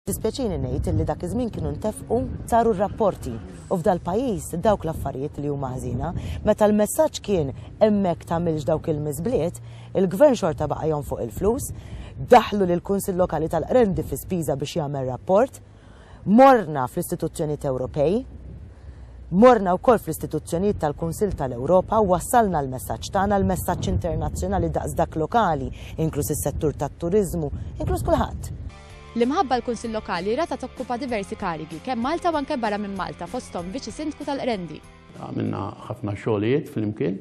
Jdispjaċini ngħid li dak iż-żmien kienu ntefqu, saru r-rapporti, u f'dal-pajjiż dawk l-affarijiet li huma ħżiena. Meta l-messaġġ kien hemmhekk tagħmilx dawk il-miżbliet, il-Gvern xorta baqa' jonfoq il-flus, daħħlu lill-Kunsill Lokali tal-Qrendi fi spiża biex jagħmel rapport, morna fl-istituzzjonijiet Ewropej, morna wkoll fl-istituzzjonijiet tal-Kunsill tal-Ewropa u wassalna l-messaġġ tagħna, l-messaġġ internazzjonali daqs dak lokali, inkluż is-settur tat-turiżmu, inkluż kulħadd. L-imħabba l-Kunsill Lokali ratha tokkupa diversi karigi, kemm Malta u anke barra minn Malta, fosthom Viċi Sindku tal-Qrendi. Għamilna ħafna xogħlijiet flimkien.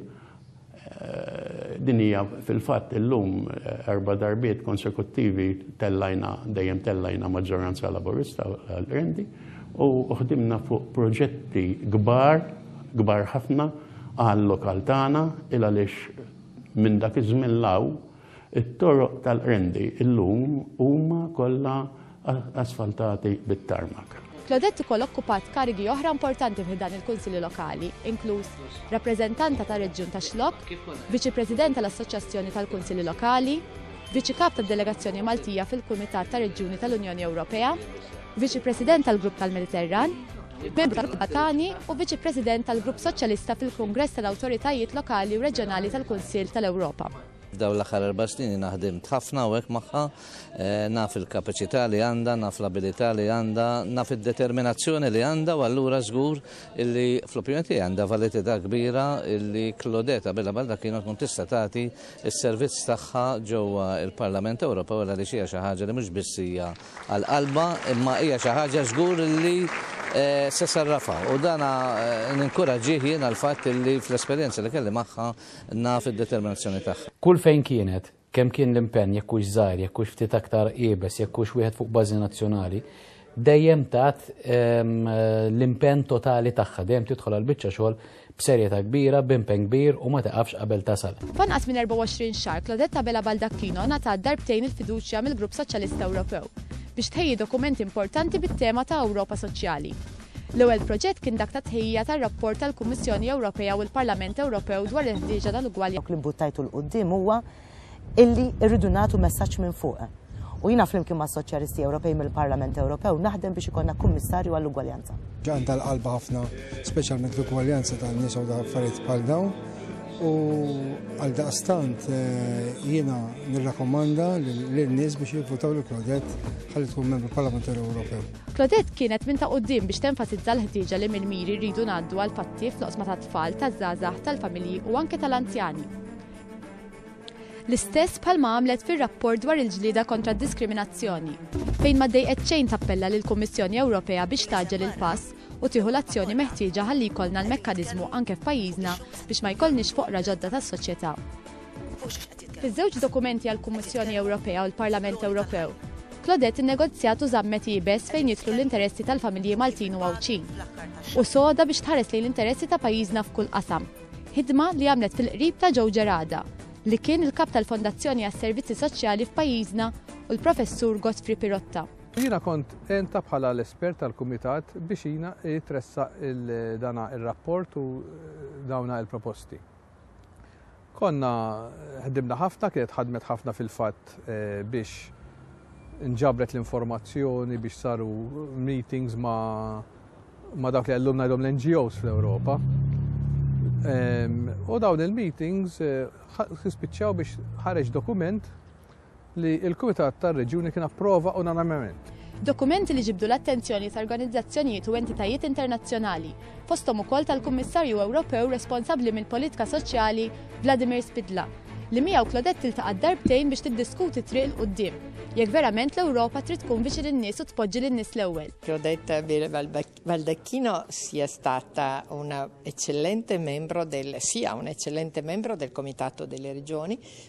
Din hija fil-fatt illum erba' darbiet konsekuttivi tellajna, dejjem tellajna maġġoranza Laburista għall-Qrendi u ħdimna fuq proġetti kbar, kbar ħafna għal-lokal tagħna il għaliex minn dak iż-żmien 'l hawn It-toroq tal-Qrendi illum huma kollha asfaltati bit-tarmak. Claudette ukoll okkupat karigi oħra importanti fi ħdan il-Kunsilli Lokali, inkluż Rappreżentanta tar-Reġjun tax-Xlokk, Viċi President tal-Assoċjazzjoni tal-Kunsilli Lokali, Viċi Kap tad-Delegazzjoni Maltija fil-Kumitat ta' Reġjuni tal-Unjoni Ewropea, Viċi President tal-Grupp tal-Mediterran, Membru tal-Grupp Balkani u Viċi President tal-Grupp Soċjalista fil-Kungress tal-Awtoritajiet Lokali u Reġjonali tal-Kunsill tal-Ewropa. F'dawn l-aħħar erba' snin jiena ħdimt ħafna hawnhekk magħha, naf il-kapaċità li għandha, naf l-abilità li għandha, naf id-determinazzjoni li għandha u allura żgur illi fl-opinjoni tiegħi għandha validità kbira illi Claudette Abela Baldacchino tkun tista' tagħti s-servizz tagħha ġewwa l-Parlament Ewropew għal għaliex hija xi ħaġa li mhux biss hija għal qalbha imma hija xi ħaġa żgur illi se sarrafha u dan ninkuraġġih jiena l-fatt illi fl-esperjenza li kelli magħha naf id-determinazzjoni tagħha. Kull fejn kienet, kemm kien l-impenn, jekk hux żgħir, jekk hux ftit aktar iebes, jekk hux wieħed fuq bażi nazzjonali, dejjem tat l-impenn totali tagħha, dejjem tidħol għall-biċċa xogħol b'serjetà kbira, b'impenn kbir u ma tiqafx qabel tasal. F'anqas minn 24 xahar Claudette Abela Baldacchino ngħatat darbtejn il-fiduċja mill-Grupp Soċjalista Ewropew biex tħejji dokumenti importanti bit-tema ta' Ewropa Soċjali. L-ewwel proġett kien dak tat-tħejjija tar-rapport tal-Kummissjoni Ewropea u l-Parlament Ewropew dwar il-ħtieġa tal-ugwaljanza. Dak li mbuttajtu 'l quddiem huwa illi rridu nagħtu messaġġ minn fuq. U jiena flimkien mas-Soċjalisti Ewropej mill-Parlament Ewropew naħdem biex ikollna Kummissarju għall-Ugwaljanza. Għandha l-qalba ħafna speċjalment l-ugwaljanza tan-nisa u affarijiet bħal dawn u għaldaqstant jiena nirrakkomanda lin-nies biex jivvutaw lil Claudette ħalli tkun Membru Parlamentari Ewropew. Claudette kienet minn ta' quddiem biex tenfasizza l-ħtieġa li mill-miri rridu ngħaddu għall-fatti fl-oqsma tat-tfal, taż-żgħażagħ, tal-familji u anke tal-anzjani. L-istess bħalma għamlet fir-rapport dwar il-ġlieda kontra d-diskriminazzjoni, fejn ma dejqet xejn tappella lill-Kummissjoni Ewropea biex tgħaġġel il-pass u tieħu l-azzjoni meħtieġa ħalli jkollna l-mekkaniżmu anke f'pajjiżna biex ma jkollniex foqra ġodda tas-soċjetà. Fiż-żewġ dokumenti għall-Kummissjoni Ewropea u l-Parlament Ewropew, Claudette innegozjat u żammet iebes fejn jidħlu l-interessi tal-familji Maltin u Għawdxin. U soda biex tħares lejn l-interessi ta' pajjiżna f'kull qasam. Ħidma li għamlet fil-qrib ta' Joe Gerada, li kien il-Kap tal-Fondazzjoni għas-Servizzi Soċjali f'pajjiżna u l-Professur Godfrey Pirotta. Jiena kont għentha bħala l-espert tal-Kumitat biex jiena jitressaq dana ir-rapport u dawna il-proposti. Konna ħdimna ħafna, kienet ħadmet ħafna fil-fatt eh, biex nġabret l-informazzjoni biex saru meetings ma, ma dawk li għallumna jom l-NGOs fl-Europa. U dawn il-meetings eh, spiċċaw biex ħareġ dokument li l-Kumitat tar-Reġjuni kien approva unanimement. Dokumenti li ġibdu l-attenzjoni ta' organizzazzjonijiet u entitajiet internazzjonali, fosthom ukoll tal-Kummissarju Ewropew responsabbli mill-politika soċjali Vladimir Spidla, li miegħu Claudette tiltaqa' darbtejn biex tiddiskuti t-triq 'l quddiem, jekk verament l-Ewropa trid tkun viċin in-nies u tpoġġi lin-nies l-ewwel. Claudette Baldacchino si è stata una eccellente membro del si è un eccellente membro del Comitato delle Regioni,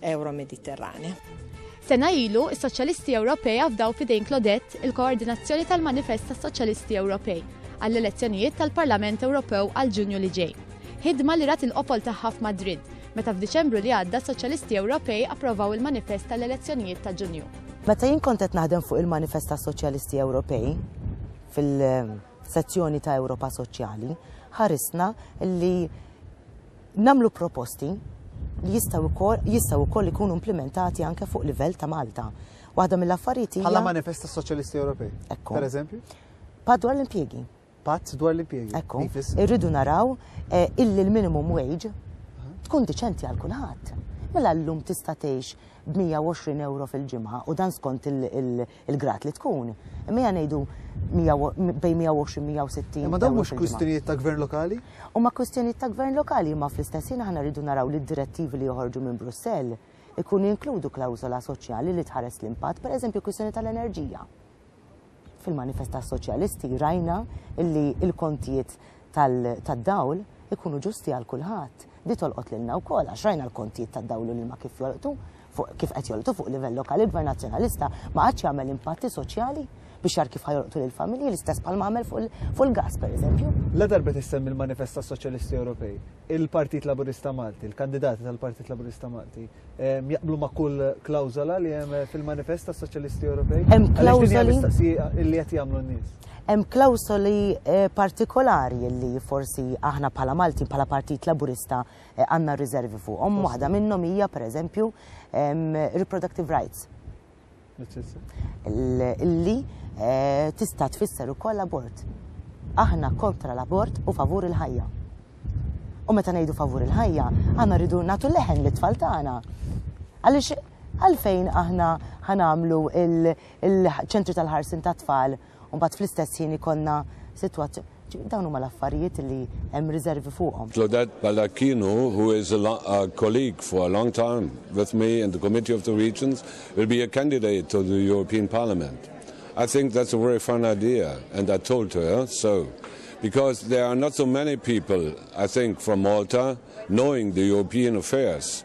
Euro-Mediterranea. Sena ilu, is-Soċjalisti Ewropej afdaw fidejn Claudette il-koordinazzjoni tal-manifest tas-Soċjalisti Ewropej għall-elezzjonijiet tal-Parlament Ewropew għal Ġunju li ġej. Ħidma li rat il-qofol tagħha f'Madrid, meta f'Diċembru li għadda s-Soċjalisti Ewropej approvaw il-manifest tal-elezzjonijiet ta' Ġunju. Meta jien kont qed naħdem fuq il-manifest tas-Soċjalisti Ewropej fil-sezzjoni ta' Ewropa Soċjali, ħarisna li nagħmlu proposti li jistgħu wkoll jistgħu wkoll ikunu implimentati anke fuq livell ta' Malta. Waħda mill-affarijiet hija Bħala manifest tas-Soċjalisti Ewropej. Ekku. Per eżempju? Pat dwar l-impjiegi. Pat dwar l-impjiegi. Ekku. Irridu naraw eh, illi l-minimum wage tkun diċenti għal kulħadd. Mela llum tista' tgħix b'120 euro fil-ġimgħa u dan skont il-grad li tkun. Imma ngħidu bejn 120-160. Imma dawn mhux kwistjonijiet ta' gvern lokali? U ma' kwistjonijiet ta' gvern lokali imma fl-istess ħin aħna rridu naraw li d-direttivi li joħorġu minn Brussell ikunu jinkludu klawżola soċjali li tħares l-impatt, pereżempju kwistjoni tal-enerġija. Fil-manifest tas-soċjalisti rajna illi il-kontijiet tad-dawl ikunu ġusti għal kulħadd. Di tolqot lilna wkoll għax rajna l-kontijiet tad-dawl u l-ilma kif jolqtu, kif qed jolqtu fuq livell lokali il-Gvern Nazzjonalista ma qadx jagħmel impatti soċjali biex jara kif ħa jolqtu lill-familji l-istess bħal ma għamel fuq il-gass pereżempju. La darba tissemmi l-manifest tas-Soċjalisti Ewropej, il-Partit Laburista Malti, il-kandidati tal-Partit Laburista Malti, jaqblu ma' kull klawzola li hemm fil-manifest tas soċjalisti Ewropej? Hemm klawżoli li qed jagħmlu n-nies. Hemm klawżoli eh, partikolari li forsi aħna bħala Malti bħala Partit Laburista eh, għandna riservi fuqhom. Waħda minnhom hija pereżempju reproductive rights. Illi eh, tista' tfisser ukoll abort. Aħna kontra l-abort u favur il-ħajja. U meta ngħidu favur il-ħajja, aħna rridu nagħtu leħen li tfal tagħna. Għaliex għalfejn aħna ħanamlu il-ċentri tal-ħarsin tat-tfal u mbagħad fl-istess ħin ikollna sitwazzjoni dawn huma l-affarijiet li hemm riservi fuqhom. Claudette Baldacchino, who is a, a colleague for a long time with me in the Committee of the Regions, will be a candidate to the European Parliament. I think that's a very fine idea, and I told to her so. Because there are not so many people, I think, from Malta knowing the European affairs.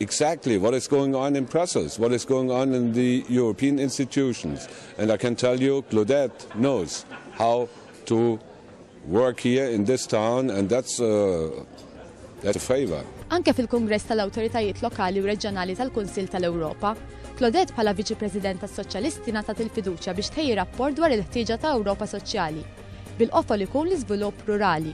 exactly what is going on in Brussels, what is going on in the European institutions. And I can tell you, Claudette knows how to work here in this town, and that's, uh, that's a favor. Anke fil-Kongress tal-Awtoritajiet Lokali u Reġjonali tal-Kunsill tal-Ewropa, Claudette bħala Viċi President tas-Soċjalisti natat il-fiduċja biex tħejji rapport dwar il-ħtieġa ta' Ewropa Soċjali, bil-qofol ikun l-iżvilupp rurali.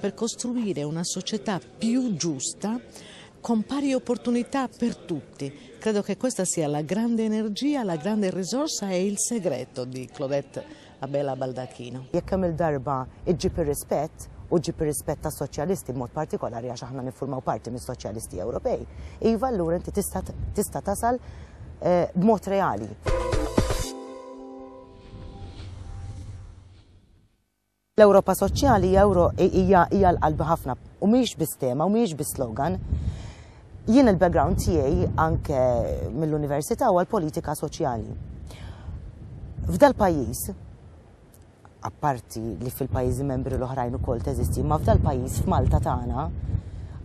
per costruire una società più giusta con pari opportunità per tutti. Credo che questa sia la grande energia, la grande risorsa e il segreto di Claudette Abela Baldacchino. Jekk kemm il-darba iġġib ir-rispett, u ġġib ir-rispett tas-soċjalisti b'mod partikolari għax aħna niffurmaw parti mis-soċjalisti Ewropej, iva allura inti tista' tista' tasal eh, b'mod reali. L-Ewropa Soċjali hija Ewro hija hija l-qalbi ħafna u mhijiex biss tema u mhijiex biss slogan. Jien il-background tiegħi anke mill-università huwa l-politika soċjali. F'dal-pajjiż, apparti li fil-pajjiżi membri l-oħrajn ukoll teżisti, ma f'dal-pajjiż f'Malta tagħna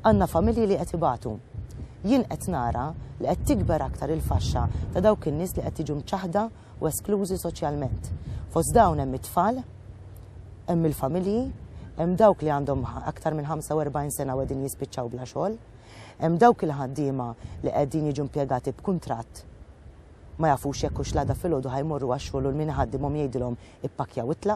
għandna familji li qed ibatu. Jien qed nara li qed tikber aktar il-faxxa ta' dawk in-nies li qed jiġu mċaħħda u esklużi soċjalment. Fost dawn hemm it-tfal, hemm il-familji, hemm dawk li għandhom aktar minn 45 sena u qegħdin jispiċċaw bla xogħol, hemm dawk il-ħaddiema li qegħdin jiġu impjegati b'kuntratt ma jafux jekk hux l-għada filgħodu ħajmorru għax-xogħol u l-min iħaddimhom jgħidilhom ippakkjaw u